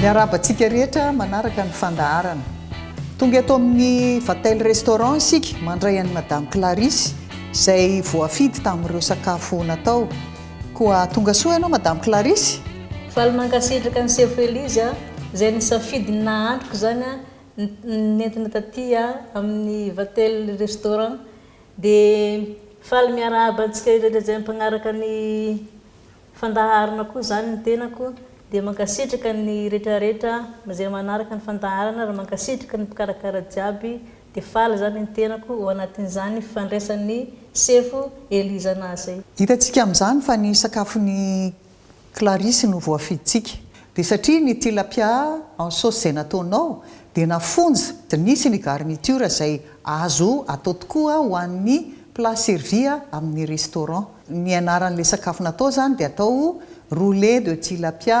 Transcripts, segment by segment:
Miarahaba antsika rehetra manaraka ny fandaharana. Tonga eto amin'ny Vatel Restaurant isika mandray an'i Madame Clarisse izay voafidy tamin'ireo sakafo natao. Koa tonga soa ianao Madame Clarisse. Faly mankasitraka an'i Sefo Elise a, izay nisafidy ny nahantroko izany a, nentina taty a, amin'ny Vatel Restaurant. Dia faly miarahaba antsika ireto izay mpagnaraka ny fandaharana koa izany ny tenako, dia mankasitraka ny retraretra izay manaraka ny fandaharana ary mankasitraka ny mpikarakara jiaby, dia faly izany ny tenako ho anatin'izany fifandraisan'ny sefo Elizana zay. Hitantsika amin'izany fa ny sakafon'ny Clarisse no voafidintsika. Dia satria ny tilapia en sauce izay nataonao dia nafonja dia nisy ny garniture izay azo atao tokoa ho an'ny plat servi amin'ny restaurant. Ny anaran'ilay sakafo natao izany dia atao roullet de tilapia.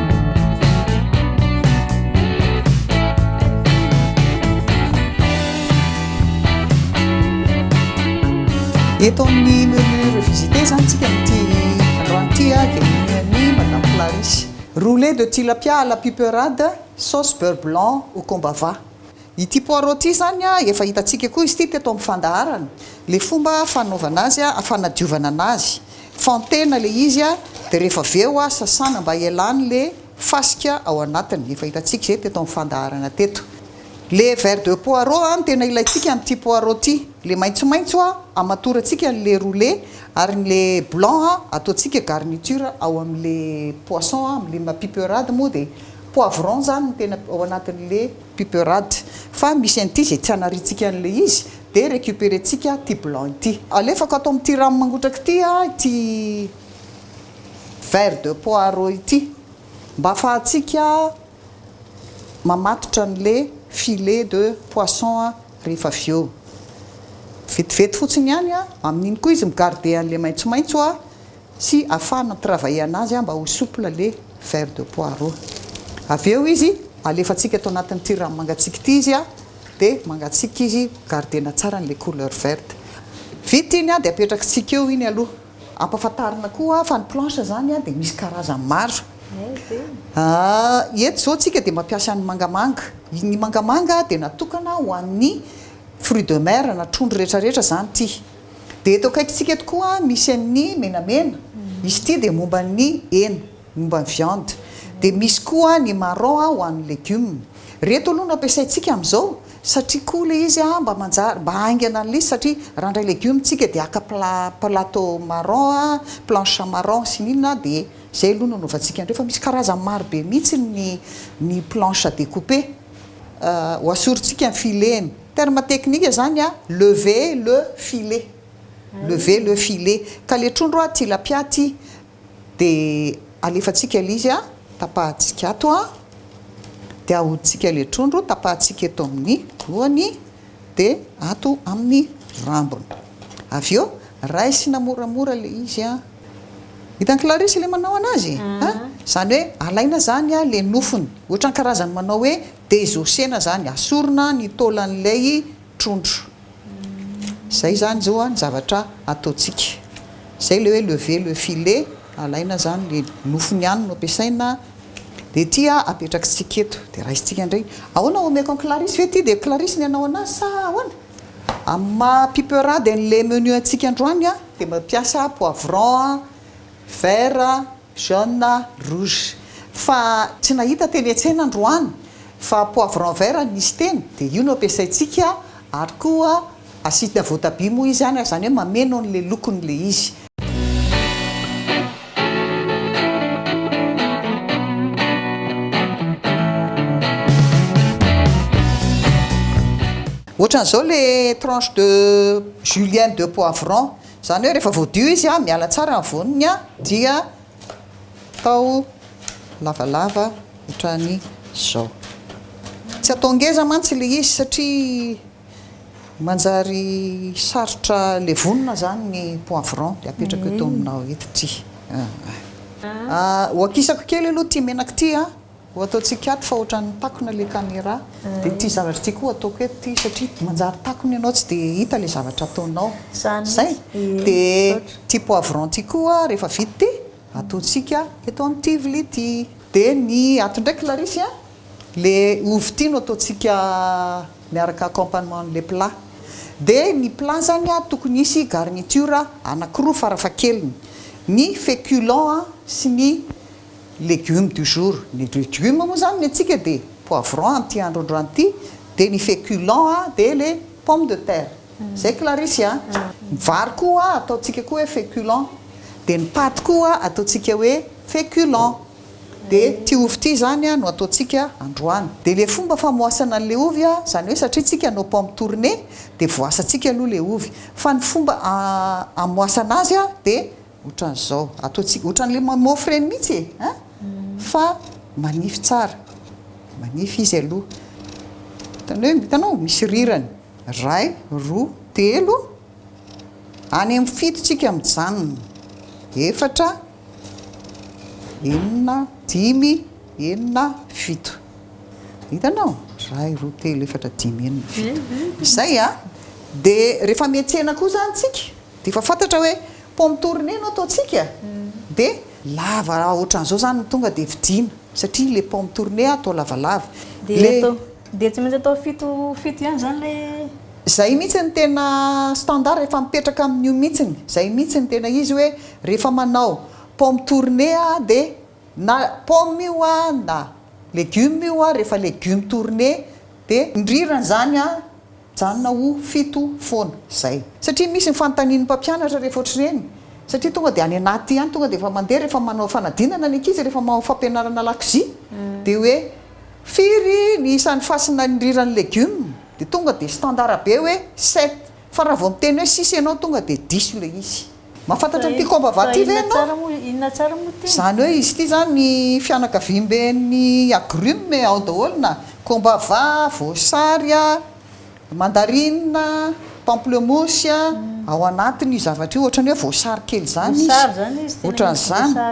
Eto amin'ny menu revisité zany tsika amin'ity androany ity a dia ny menu madame Clarisse. Roulé de tilapia à la piperade sauce beurre blanc au combava. Ity poireau ity zany a efa hitantsika koa izy ity teto amin'ny fandaharana, le fomba fanaovana azy a, fanadiovana anazy. Fantena le izy a, de rehefa avy eo a sasana mba hialany le fasika ao anatiny, efa hitantsika izay teto amin'ny fandaharana teto. Le vers de poireaux a no tena ilaintsika amin'ity poireaux ty, le maitsomaitso a hamatorantsika an'le roule ary ny le blanc a ataontsika garniture ao amin'le poisson a, amin'le mapiperade moa de poivron zany no tena ao anatin'le Piperade. Fa misy an'ity izay tsy anariantsika an'ilay izy dia recuperentsika ity blanc ity. Alefako ato amin'ity rano mangotraka ity ity vert de poireau ity mba afahantsika mamatotra an'ilay filet de poisson rehefa avy eo. Vetivety fotsiny ihany amin'iny koa izy mi-garder an'ilay maitsomaitso sy afahana travailler-na azy mba ho souple le verre de poireau. Avy eo izy alefantsika ato anatin'ity rano mangatsiaka ity izy dia mangatsiaka izy, garder-na tsara an'ilay couleur verte. Vita iny dia apetrakitsika eo iny aloha. Ampahafantarina koa fa ny planche izany dia misy karazany maro. Eto izao tsika dia mampiasa ny mangamanga. Ny mangamanga dia natokana ho an'ny fruits de mer na trondro rehetra rehetra izany ity. Dia eto akaikintsika eto koa misy an'ny menamena, izy ity dia momba ny hena, momba ny viande. Dia misy koa ny marron ho an'ny legume. Ireto aloha no ampiasaintsika amin'izao satria koa ilay izy mba manjary, mba haingana an'ilay izy satria raha handray legume isika dia haka plat, plateau marron, planche marron sy ny inona dia izay aloha no hanaovantsika an'ireo fa misy karazany maro be mihitsy ny ny planche à découper. Ho asorintsika ny fileny. Terme teknika zany a, lever le filet, lever le filet, ka le trondro a tilapia ty de alefatsika le izy a, tapahatsika ato a, de ahoditsika le trondro, tapahatsika eto amin'ny lohany de ato amin'ny rambony, avy eo raisina moramora le izy a, hitan'i Clarisse le manao anazy a, zany hoe alaina zany a le nofony, ohatran'ny karazan'ny manao hoe Dia zosena zany, asorina ny taolan'ilay trondro. Zay zany zao ny zavatra ataontsika. Zay ilay hoe lever le filet, alaina zany le nofony ihany no ampiasaina, dia ity apetrakitsika eto, dia raisintsika indray. Ahoana omeko an'i Clarisse ve ity, dia Clarisse ny hanao anazy sa ahoana? Amin'ny maha piperade an'ilay menu antsika androany dia mampiasa poivron vert. Jaune, rouge. Fa tsy nahita teny an-tsena androany fa poivron vert nisy teny dia io no ampiasaintsika ary koa acide voatabia moa izy any ary izany hoe mameno an'ilay lokony ilay izy. Ohatran'izao ilay tranche de julienne de poivron. Izany hoe rehefa voadio izy an, miala tsara ny voniny an, dia atao lavalava ohatran'izao. Tsy atao ngeza mantsy ilay izy satria manjary sarotra levonina izany ny poivron, dia apetrako eto aminao eto ity. Hoakisako kely aloha ity menaka ity an. Ho ataontsika ato fa ohatran'ny takona ilay camera dia ity zavatra ity koa ataoko eto ity satria manjary takona ianao tsy dia hita ilay zavatra ataonao. Izay. Dia ity poivron ity koa rehefa vita ity ataontsika eto amin'ity vilia ity. Dia ny ato indray Clarisse a, ilay ovy ity no ataontsika miaraka accompagnement an'ilay plat. Dia ny plat izany a, tokony hisy garniture anankiroa farafahakeliny, ny féculent sy ny. Légumes du jour, ny légumes moa zany ny antsika dia poivron amin'ity androandroany ity, dia ny féculents a dia le pomme de terre, zay Clarisse a, ny vary koa a ataontsika koa hoe féculent, dia ny paty koa ataontsika hoe féculent, dia ity ovy ity zany a no ataontsika androany, dia le fomba famoasana an'le ovy a, zany hoe satria tsika nos pommes tournées dia voasantsika aloha le ovy, fa ny fomba amoasana azy a dia Otran'izao. Ataontsika otran'ny lemon mofo ireny mihitsy e! An! Fa manify tsara. Manify izy aloha. Hitanao eo? Hitanao? Misy rirany. Iray, roa, telo. Any amin'ny fito tsika mijanona. Efatra, enina, dimy, enina, fito. Hitanao? Iray, roa, telo, efatra, dimy, enina, fito. Izay an! Dia rehefa miantsena koa izany tsika. Dia efa fantatra hoe pomme tournée no ataontsika dia lava ohatran'izao izany no tonga dia vidiana satria ilay pomme tournée atao lavalava. Dia atao, dia tsy maintsy atao fito fito ihany izany ilay. Izay mihitsy no tena standard efa mipetraka amin'io mihitsy, izay mihitsy no tena izy hoe rehefa manao pomme tournée aho dia na pomme io aho na legioma io aho rehefa legioma tournée dia. Ny rirany izany an! Mijanona ho fito foana izay. Satria misy ny fanontanian'ny mpampianatra rehefa ohatr'ireny. Satria tonga dia any anaty ihany, tonga dia efa mandeha rehefa manao fanadinana ny ankizy, rehefa manao fampianarana lakozia, dia hoe firy ny isan'ny fasina niriran'ny legioma? Dia tonga dia standard be hoe sept. Fa raha vao miteny hoe six ianao tonga dia diso ilay izy. Mahafantatra an'ity koba vato ity ve ianao? Inona tsara moa ity? Izany hoe izy ity izany ny fianakaviamben'ny agrumes ao daholo na, kombava, voasary, mandarine, pamplemousse, ao anatin'io zavatra io, ohatran'ny hoe voasary kely izany izy, ohatran'izany.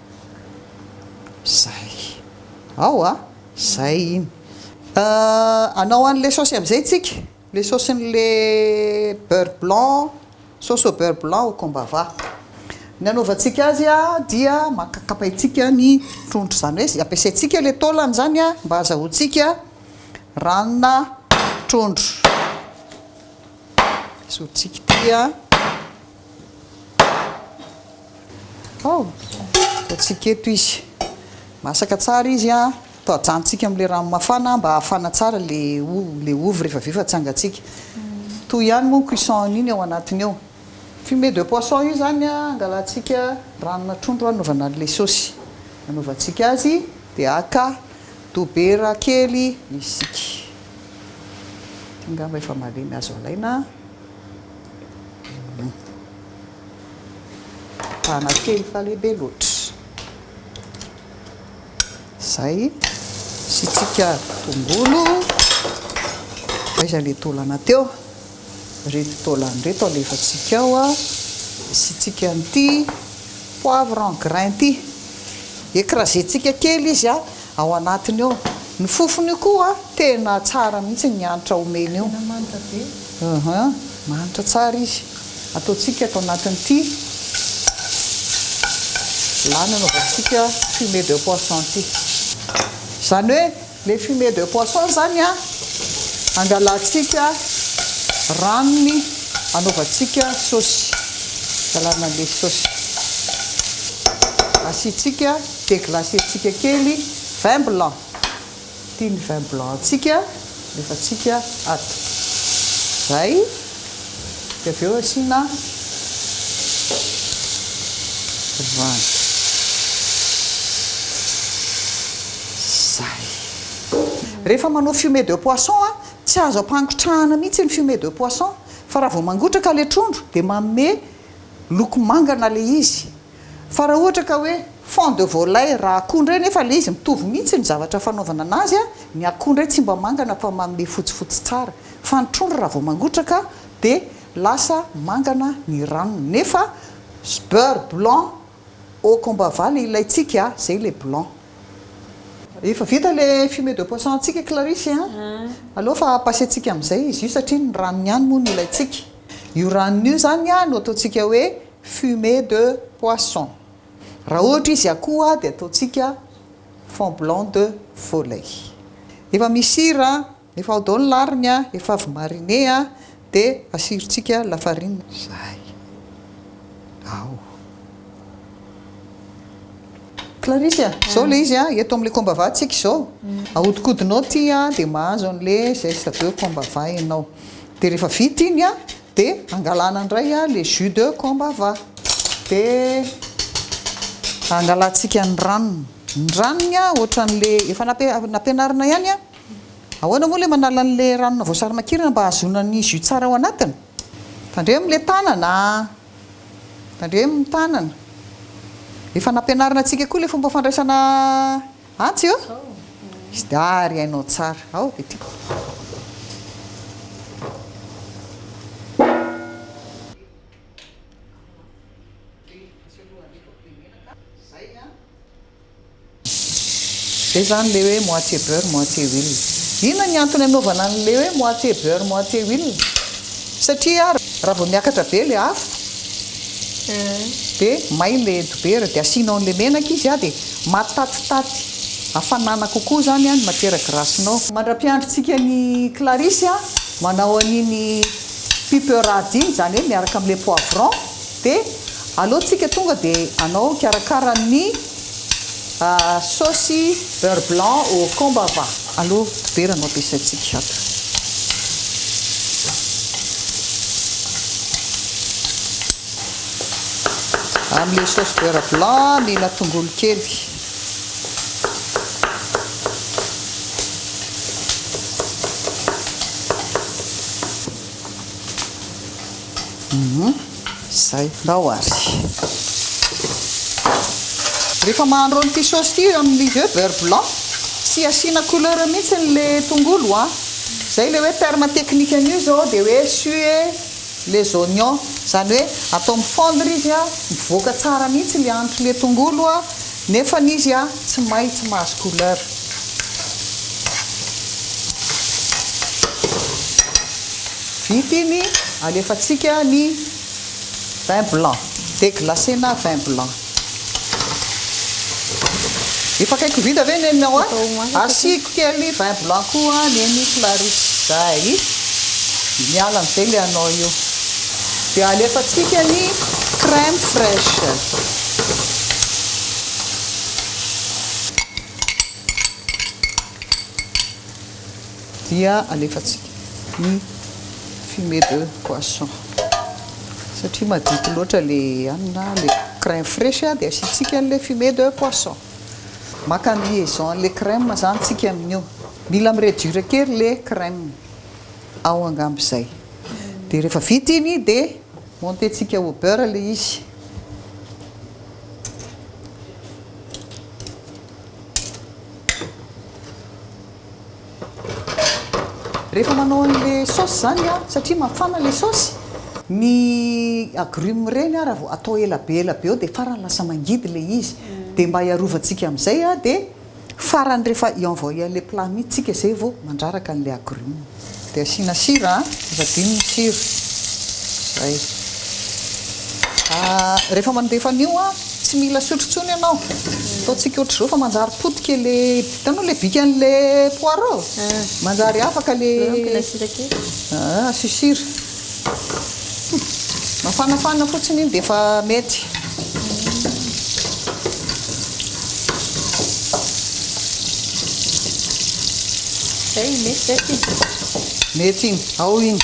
Zay. Ao a! Zay iny. Euh, anao any le saosy amizay tsika, le saosiny le beurre blanc, sauce au beurre blanc au combava. Ny anaovantsika azy a dia maka kapaintsika ny trondro zany hoe ampiasaintsika le taolany zany a mba azahoantsika ranona trondro. Esorintsika ity a. Ao, ataontsika eto izy. Masaka tsara izy an. Atao ajanontsika amin'ilay rano mafana mba hahafana tsara ilay ovy rehefa avy eo fa tsy angantsika. Toy ihany moa ny cuisson iny ao anatiny ao. Fumée de poisson io izany angalantsika ranona trondro hanaovana an'ilay saosy hanaovantsika azy dia haka dobera kely isika. Ity angamba efa malemy azo alaina. Mitana kely fa lehibe loatra. Izay. Asiantsika tongolo. Aiza ilay taolana teo? Ireto taolana ireto alefantsika ao. Asiantsika an'ity poivre en grain ity. Ecraser-tsika kely izy. ao anatiny ao, ny fofony io koa tena tsara mihitsy ny hanitra omeny io, tena manitra be, aha, manitra tsara izy, ataontsika ato anatin'ity vilany anaovantsika fumée de poisson ity, izany hoe ilay fumée de poisson izany an, angalantsika ranony anaovantsika saosy, angalana an'ilay saosy, asiantsika. Dia glacer-tsika kely vin blanc. Ity ny vin blanc-ntsika, alefantsika ato. Izay. Dia avy eo asiana rano. Izay. Rehefa manao fumée de poisson, tsy azo ampangotrahana mihitsy ny fumée de poisson fa raha vao mangotraka ilay trondro dia manome loko manga na ilay izy. Fa raha ohatra ka hoe fond de volaille raha akoho indray nefa ilay izy mitovy mihitsy ny zavatra fanaovana anazy a, ny akoho indray tsy mba mangana fa manome fotsifotsy tsara fa ny trondro raha vao mangotraka dia lasa mangana ny ranony nefa beurre blanc au combat va le ilaintsika a, izay ilay blanc. Efa vita ilay fumée de poisson antsika Clarisse a, aleo fa pasentsika amin'izay izy io satria ny ranony ihany moa no ilaintsika, io ranony io izany a no ataontsika hoe fumée de poisson, raha ohatra izy akoho dia ataontsika fond blanc de volaille, efa misy sira, efa ao daholo ny lariny a, efa avy mariner a, dia asirontsika lafarinina izay ao. Clarisse a, izao ilay izy a, eto amin'ilay combat va tsika izao, ahodikodinao ity a, dia mahazo an'ilay zeste de combat va ianao, dia rehefa vita iny a, De angalana indray a le jus de combava de angalantsika ny ranony, ny ranony a ohatran'le efa nampianarina ihany a, ahoana moa le manala an'le ranona voasarimakirana mba hahazoana ny jus tsara ao anatiny? tandremo le tanana a, tandremo ny tanana, efa nampianarina antsika koa le fomba fandraisana. Atsy ô! Izy dia ah ry hainao tsara. Ao dia tiako. Izay izany ilay hoe moitié beurre, moitié huile. Inona ny antony anaovana an'ilay hoe moitié beurre, moitié huile? Satria raha vao miakatra be ilay afo, Dia may ilay dobera dia asianao an'ilay menaka izy an, dia matatitaty hafanana kokoa izany an ny matiera grasinao. Mandra-piandrintsika an'i Clarisse an, manao an'iny piperade iny, izany hoe miaraka amin'ilay poivron, dia aleontsika tonga dia anao karakara ny Saosy beurre blanc au combava aloha dibera no ampiasaintsika ato. Amin'ilay saosy beurre blanc nila tongolo kely. Izay, ndao ary. Rehefa mahandro an'ity saosy ity amin'ny œuf beurre blanc, tsy asiana couleur mihitsy le tongolo a. Izay le hoe terme technique an'io izao dia hoe suer les oignons, izany hoe atao mifondre izy a, mivoaka tsara mihitsy le hanitr'le tongolo a. Nefany izy a tsy may tsy mahazo couleur. Vita iny alefatsika ny vin blanc deglacé na vin blanc. Efa akaiky ho vita ve neny ao a? Asiako kely vin blanc koa neny Clarisse zay. Miala amizay le anao io. Dia alefantsika ny crème fraiche. Dia alefantsika ny fumée de poisson. Satria madity loatra ilay hanina, ilay crème fraiche dia asiantsika an'ilay fumée de poisson. Maka ny liaison an'ilay crème izany isika amin'io. Mila mi-reduire kely ilay crème ao angamba izay. dia rehefa vita iny dia monter tsika au beurre le izy rehefa manao an'le sauce zany a satria mafana le sauce ny agrumes reny a raha vao atao ela be ela be eo dia farany lasa mangidy le izy dia mba hiarovantsika am'zay a dia Farany rehefa i envoyer le plat mitsy tsika zay vo mandraraka anle agrumes. De asiana sira a, aza adino ny sira. Zay. Ah, rehefa mandefa an'io a, tsy mila sotro tsony ianao. Ataontsika ohatr'izao fa manjary potika le, hitanao le bikan'le poireau? Manjary afaka le. Asio sira. Mafanafana fotsiny iny dia efa mety. Zay iny mety zay ty. Mety iny, ao iny.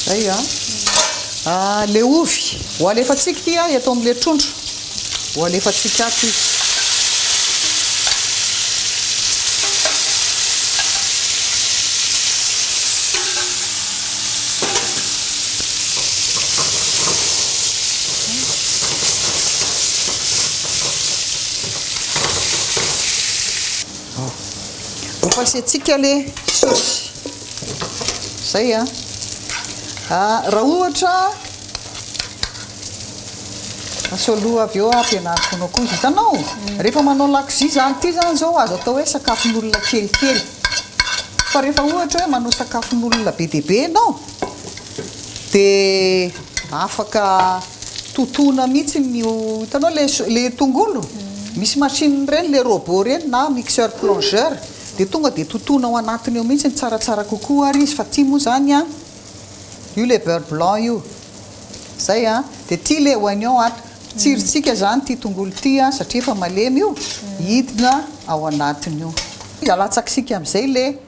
Zay a. Ah, le ovy ho alefantsika ity a eto amin'le trondro. Ho alefantsika ato izy. Ho fasiantsika le saosy. Zay a. Ah, raha ohatra asao aloha avy eo ampianariko anao koa. Hitanao? Rehefa manao lakozia zany ity zany zao azo atao hoe sakafon'olona kelikely. Fa rehefa ohatra hoe manao sakafon'olona be dia be ianao, dia afaka totoina mihitsy ny hitanao le le tongolo misy machine ireny le robot ireny na mixeur plongeur dia tonga dia totoina ao anatiny ao mihitsy ny tsaratsara kokoa ary izy fa ity moa izany an io le beurre blanc io izay an dia ity le oignon ato tsirintsika izany ity tongolo ity an satria efa malemy io hidina ao anatiny io dia alatsaka isika amin'izay le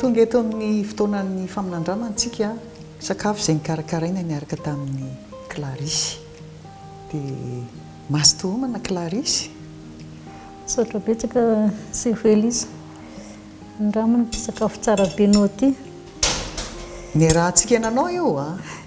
Tonga eto amin'ny fotoanan'ny faminandramana isika, sakafo izay nikarakaraina niaraka tamin'i Clarisse. Dia mazotoa homana Clarisse. Misaotra betsaka Sefo Elisa. Andramana ity sakafo tsara be anao ity. Niarahantsika nanao io an.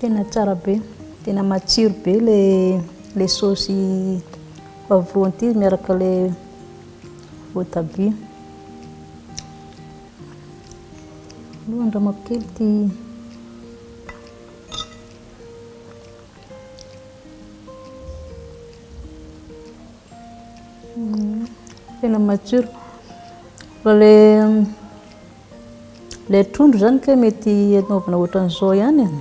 Tena tsara be, tena matsiro be ilay saosy poivron ity miaraka ilay voatabia. Aleo andramako kely ity tena matsiro. Ilay trondro izany kay mety anaovana ohatran'izao ihany an.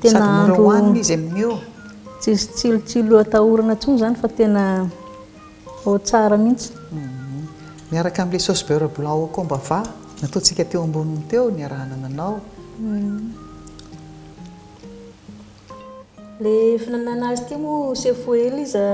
Tena Sady mora andro- hohanina izy amin'io. Tsisy tsilotsilo atahorana intsony izany fa tena ao tsara mihitsy. Miaraka amin'ilay sauce beurre blanc au comba va nataontsika teo amboniny teo niarahana nanao. Ilay fihinanana azy ity moa Chef Elisa.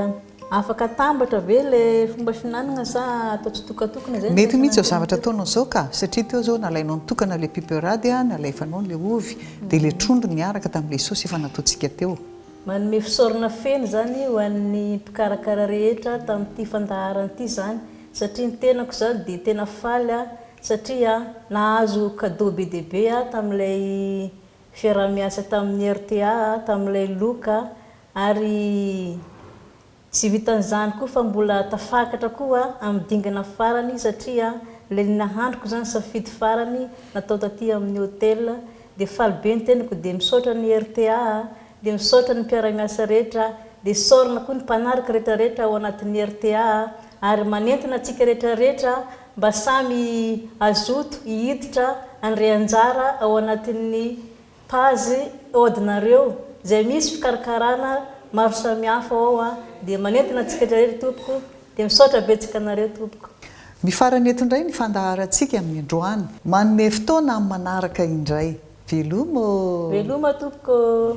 Afaka atambatra ve le fomba fihinanagna sa atao tsitokatokana zay no raisina an'ireny Mety mihitsy zao zavatra atao nao zao ka, satria teo zao nalainao nitokana le piperady a, nalefanao le ovy, de le trondro niaraka tamle saosy efa nataontsika teo. Manome fisaorana feno izany ho an'ny mpikarakara rehetra tamin'ity fandaharana ity izany satria ny tenako izany dia tena faly aho satria nahazo cadeau be dia be aho tamin'ilay fiaraha-miasa tamin'ny rta, tamin'ilay loka Ary tsy vitan'izany koa fa mbola tafakatra koa amin'ny dingana farany satria ilay ny nahandroko izany safidy farany natao taty amin'ny hotel dia faly be ny tenako dia misaotra ny rta dia misaotra ny mpiara-miasa rehetra dia saorina koa ny mpanaraka rehetra rehetra ao anatin'ny rta ary manentana antsika rehetra rehetra mba samy hazoto hihiditra handre anjara ao anatin'ny Page od nareo zay misy fikarakarana maro samihafa ao a de manentana antsika rehetra ry tompoko de misaotra betsaka anareo tompoko. Mifarana eto indray ny fandaharantsika amin' indroany. Manome fotoana amin'ny manaraka indray. Veloma ô! Veloma tompoko ô!